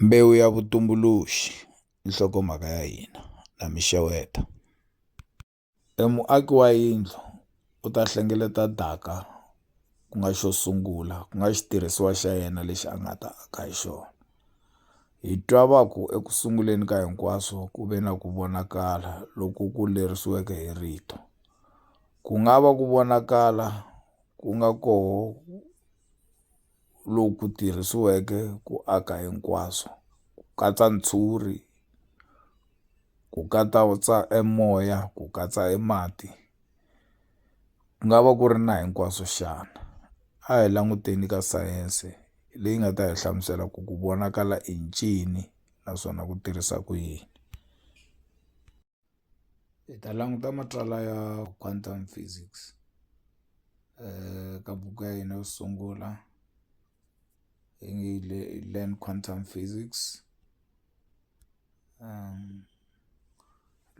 Mbewu ya vutumbuluxi i nhlokomhaka ya hina na mi xeweta. E muaki wa yindlu u ta hlengeleta daka ku nga xo sungula ku nga xitirhisiwa xa yena lexi a nga ta aka hi xona hi twa va ku eku sunguleni ka hinkwaswo ku ve na ku vonakala loku ku lerisiweke hi rito ku nga va ku vonakala ku nga koho. loku tirhisiweke ku aka hinkwaswo, ku katsa ntshuri, ku katsa e moya, ku katsa e mati, ku nga va ku ri na hinkwaswo xana? A hi languteni ka sayense leyi nga ta hi hlamusela ku ku vonakala i ncini naswona ku tirhisa ku yini. hi ta languta matsalwa ya quantum physics ka buku ya hina yo sungula yi nge yi le learn quantum physics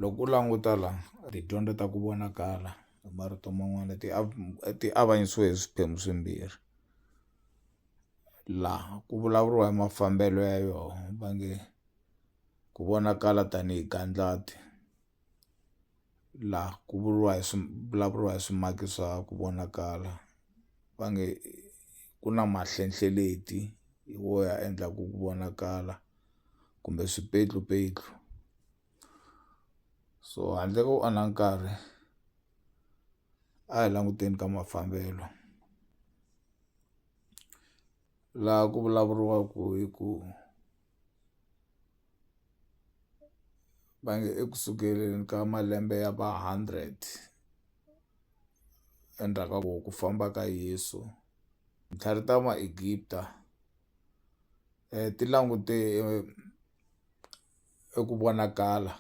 loko u languta la tidyondzo ta ku vonakala hi marito man'wana ti ti avanyisiwe hi swiphemu swimbirhi laha ku vulavuriwa hi mafambelo ya yona va nge ku vonakala tanihi gandlati laha ku vuriwa hi swi vulavuriwa hi swimaki swa ku vonakala va nge ku na mahlehlenhleti hi wo ya endlaku ku vonakala kumbe swipetlupetlu so handle ko onha nkarhi a hi languteni ka mafambelo laha ku vulavuriwaku hi ku. va nge eku sukeleni ka malembe ya va hundred endzhaku ka ku ku famba ka Yeso titlhari ta Egipta ti langute eku vonakala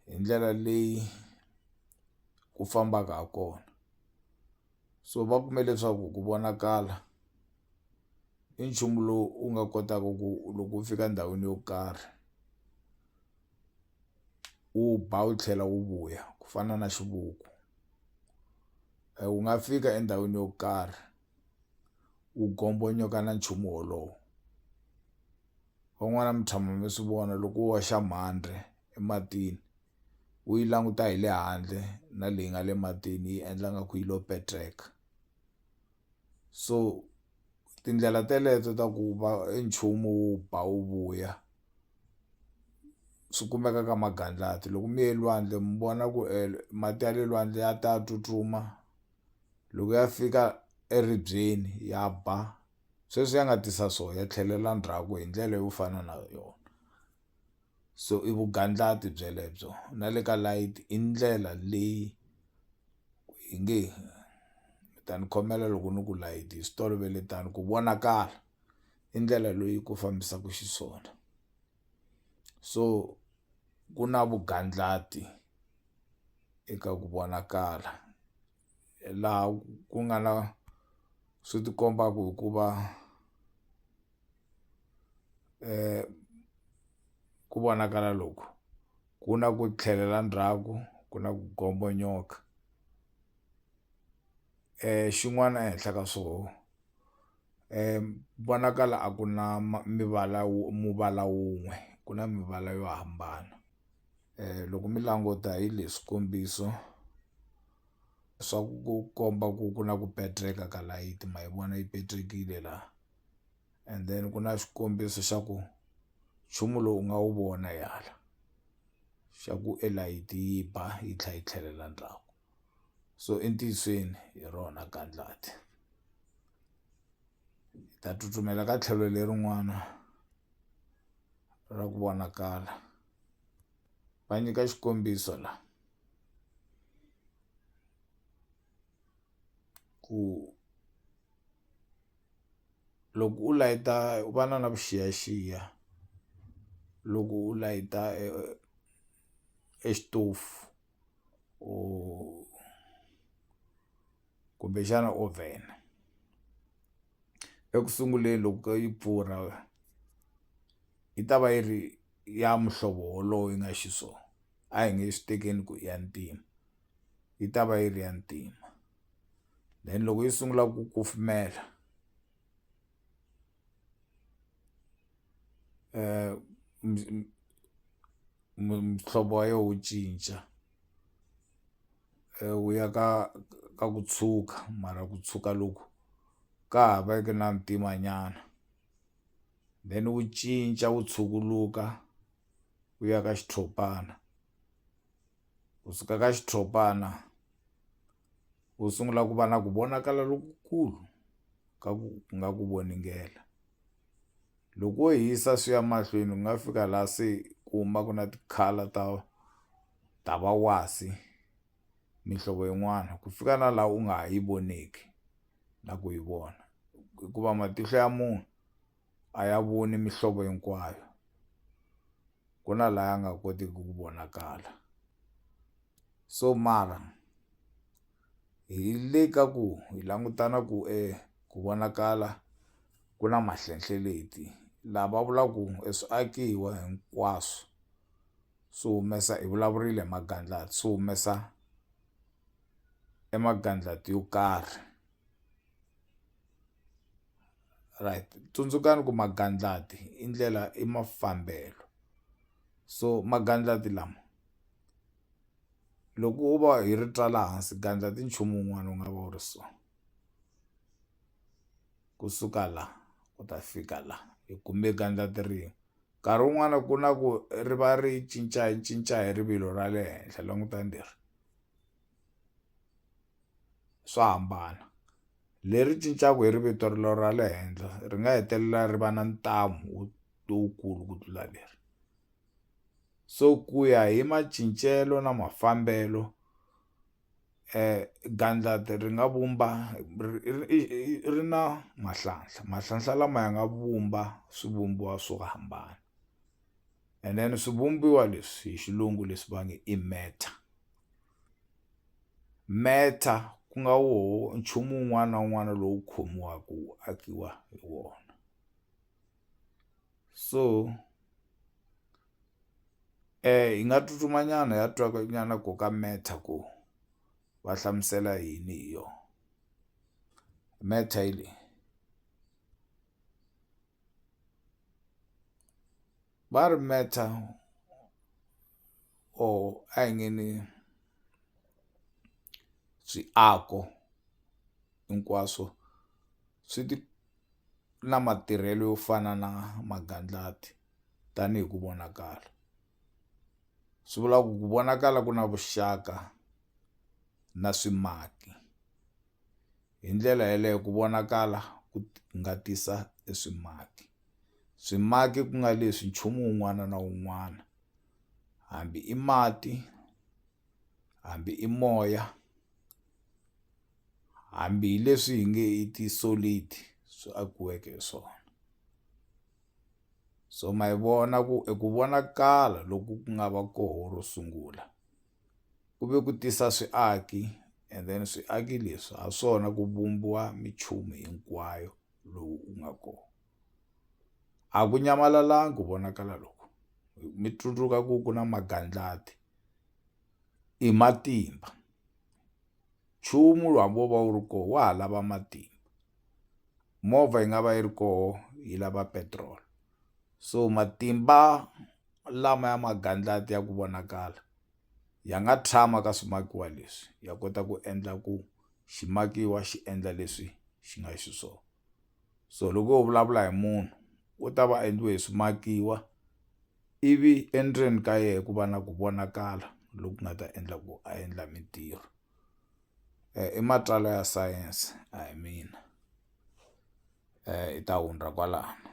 hi ndlela leyi ku fambaka ha kona. so va kume leswaku ku vonakala i nchumu lowu u nga kotaka ku loko u fika endhawini yo karhi wu ba wu tlhela wu vuya ku fana na xivuku e, wu nga fika endhawini yo karhi wu gombonyoka na nchumu wolowo van'wana mi tshama mi swi vona loko wo xa mhandre ematini u yi languta hi le handle na leyi nga le matini yi endla nga ku yi lo petreka so tindlela teleto ta ku va e nchumu wu ba wu vuya swi kumeka ka magandlati loko mi ye lwandle mi vona ku e mati ya le lwandle ya ta tsutsuma loko ya fika eribyeni ya ba sweswi ya nga tisa so ya tlhelela ndzhaku hi ndlela yo fana na yona. so i vugandlati byelebyo na le ka light i ndlela leyi hi nge mi ta ni khomela loko ni ku light hi swi tolovele tani ku vonakala i ndlela leyi ku fambisaka xiswona so ku na vugandlati eka ku vonakala laha ku nga na swi ti kombaka hikuva. ku vonakala loku ku na ku tlhelela ndzhaku ku na ku gombanyoka xin'wana ehenhla ka swoho vonakala a ku na mivala muvala wun'we ku na mivala yo hambana loko mi languta hi le swikombiso swa ku komba ku ku na ku pendleka ka layiti ma yi vona yi petlekile la. and then ku na xikombiso xa ku nchumu lowu u nga wu vona yala xa ku e layiti yi ba yi tlhela yi tlhelela ndzhaku so entiyisweni hi rona gandlati hi ta tsutsumela ka tlhelo lerin'wana ra ku vonakala va nyika xikombiso la ku loko u layita u va na na vuxiyaxiya loko u layita e e xitofu or kumbexana oven eku sunguleni loko yi pfurha yi ta va yi ri ya muhlovo wolowo yi nga xiswona a hi nge swi tekeni ku i ya ntima yi ta va yi ri ya ntima. then loko yi sungula ku kufumela muhlovo wa yo wu cinca wu ya ka ka ku tshuka mara ku tshuka loku ka ha va ku na ntima nyana then wu cinca wu tshukuluka wu ya ka xitshopana. u suka ka xitshopana u sungula ku va na ku vonakala lokukulu ka ku nga ku voningela loko wo hisa swi ya mahlweni ku nga fika laha se ku humaka na ti-colour ta ta va wasi mihlovo yin'wana ku fika na laha u nga ha yi voneki na ku yi vona hikuva matihlo ya munhu a ya voni mihlovo hinkwayo. ku na la ya nga kotiki ku vonakala so mara hi le ka ku hi langutana ku e ku vonakala ku na mahlenhleleti la va vula ku e swiakiwa hinkwaswo swi humesa hi vulavurile hi magandlati swi humesa e magandlati yo karhi. right tsundzukani ku magandlati i ndlela i mafambelo so magandlati lama loko wo va hi ri twa laha hansi gandla ti nchumu wun'wana wu nga va wu ri so kusuka la u ta fika la hi kume gandla ti rin'we nkarhi wun'wana ku na ku ri va ri cinca cinca hi rivilo ra le henhla langutani leri. swa hambana leri cincaka hi ri vito rilo ra le henhla ri nga hetelela ri va na ntamu wo lowukulu ku tlula leri so ku ya hi macincelo na mafambelo um gandlati ri nga vumba ri na mahlanhla mahlanhla lama ya nga vumba swivumbiwa swo hambana and then swivumbiwa leswi hi xilungu leswi va nge i matter. Meta ku nga woho nchumu wun'wana na wun'wana lowu khomiwaka wu akiwa hi wona so hi nga tsutsuma nyana hi ya twa nyana ko ka Meta ku va hlamusela yini hi yona Meta hi leyi. va ri metha or a hi nge ni swiako hinkwaswo swi ti na matirhelo yo fana na magandlati tanihi ku vonakala swi vula ku ku vonakala ku na vuxaka na swimaki. Hi ndlela yaleyo ku vonakala ku nga tisa e swimaki. Swimaki ku nga leswi nchumu wun'wana na wun'wana hambi i mati hambi i moya hambi hi leswi hi nge i ti-solid swi akiweke hi swona so ma yi vona ku eku vonakala loku ku nga va koho ro sungula ku ve ku tisa swiaki and then swiaki leswi ha swona ku vumbiwa minchumu hinkwayo lowu u nga kona a ku nyamalalanga ku vonakala loko mi tsundzuka ku ku na magandlati i matimba nchumu lowu hambi wo va wu ri kona wa ha lava matimba movha yi nga va yi ri koho yi lava petiroli so matimba lama ya magandlati ya ku vonakala ya nga tshama ka swimakiwa leswi ya kota ku endla ku ximakiwa xi endla leswi xi nga xiswona so loko ho vulavula hi munhu u ta va endliwe hi swimakiwa ivi endzeni ka yena ku va na ku vonakala loku nga ta endla ku a endla mintirho eh, i matsalwa ya sayense a hi mina hi ta hundza kwalano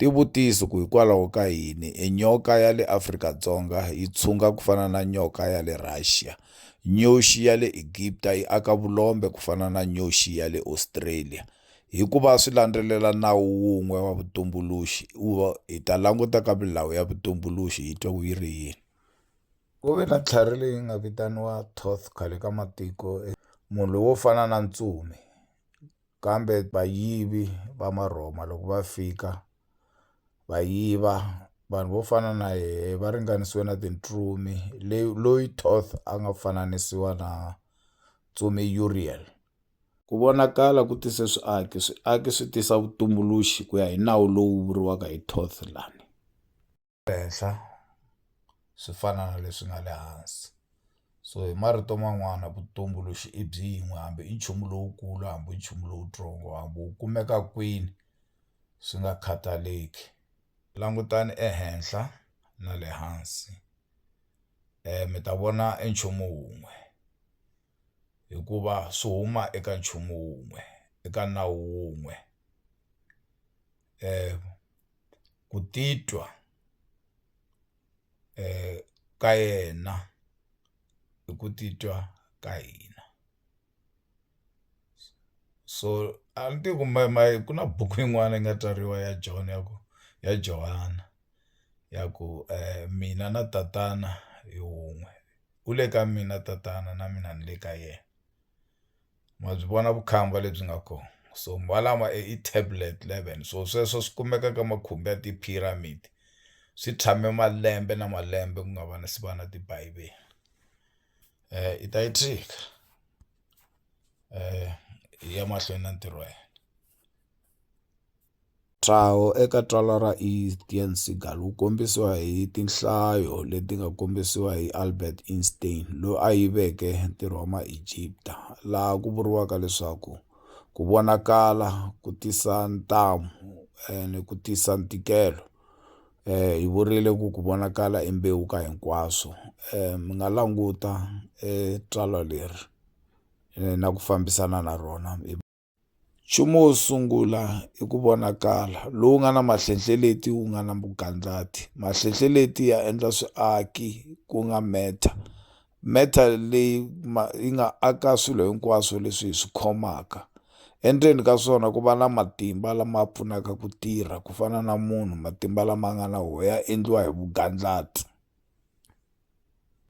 tivutiso ku hikwalaho ka yini e nyoka ya le Afrika-Dzonga yi tshunga ku fana na nyoka ya le Russia nyoxi ya le Egipta yi aka vulombe ku fana na nyoxi ya le Australia hikuva swi landzelela nawu wun'we wa vutumbuluxi hi ta languta ka milawu ya vutumbuluxi hi twa ku yi ri yini Ku ve na tlhari leyi nga vitaniwa Thoth khale ka matiko, e, munhu lowo fana na ntsumi. Kambe vayivi va Marhoma loko va fika va yiva vanhu vo fana na yehe va ringanisiwe na tintsumi, leyi loyi Thoth a nga fananisiwa na ntsumi Uriel. Ku vonakala ku tise swiaki, swiaki swi tisa vutumbuluxi ku ya hi nawu lowu vuriwaka hi Thoth lani. le henhla swi fana na leswi nga le hansi so hi marito man'wana vutumbuluxi i byin'we hambi i nchumu lowukulu hambi i nchumu lowutsongo hambi wu kumeka kwini swi nga khataleki langutani ehenhla na le hansi mi ta vona i nchumu wun'we. hikuva swi huma eka nchumu wun'we eka nawu wun'we ku titwa ka yena i ku titwa ka hina so a ni tivi ku ku na buku yin'wana yi nga tswariwa ya John ya ku ya Johana ya ku mina na tatana hi wun'we. u le ka mina tatana na mina ni le ka yena ma byi vona vukhamba lebyi nga kona so malama i tablet eleven so sweswo swi kumeka ka makhumbi ya ti-pyramid swi tshame malembe na malembe ku nga va na si va na tibivele i ta yi tshika yi ya mahlweni na ntirho wa yena. Ntshaho eka Tsalwa ra Estienne Seagal wu kombisiwa hi tinhlayo leti nga kombisiwa hi Albert Einstein, loyi a yiveke ntirho wa Maegipta, laha ku vuriwaka leswaku ku vonakala ku tisa ntamu eh, ni ku tisa ntikelo. Eh, hi vurile ku ku vonakala i mbewu ka hinkwaswo. Eh, mi nga languta eh, tsalwa leri eh, na ku fambisana na rona. nchumu wo sungula i ku vonakala lowu nga na mahlenhleleti wu nga na mugandlati mahlenhleleti ya endla swiaki ku nga matter matter leyi ma yi nga aka swilo hinkwaswo leswi hi swi khomaka endzeni ka swona ku va na matimba lama pfunaka ku tirha ku fana na munhu matimba lama nga na wo ya endliwa hi vugandlati.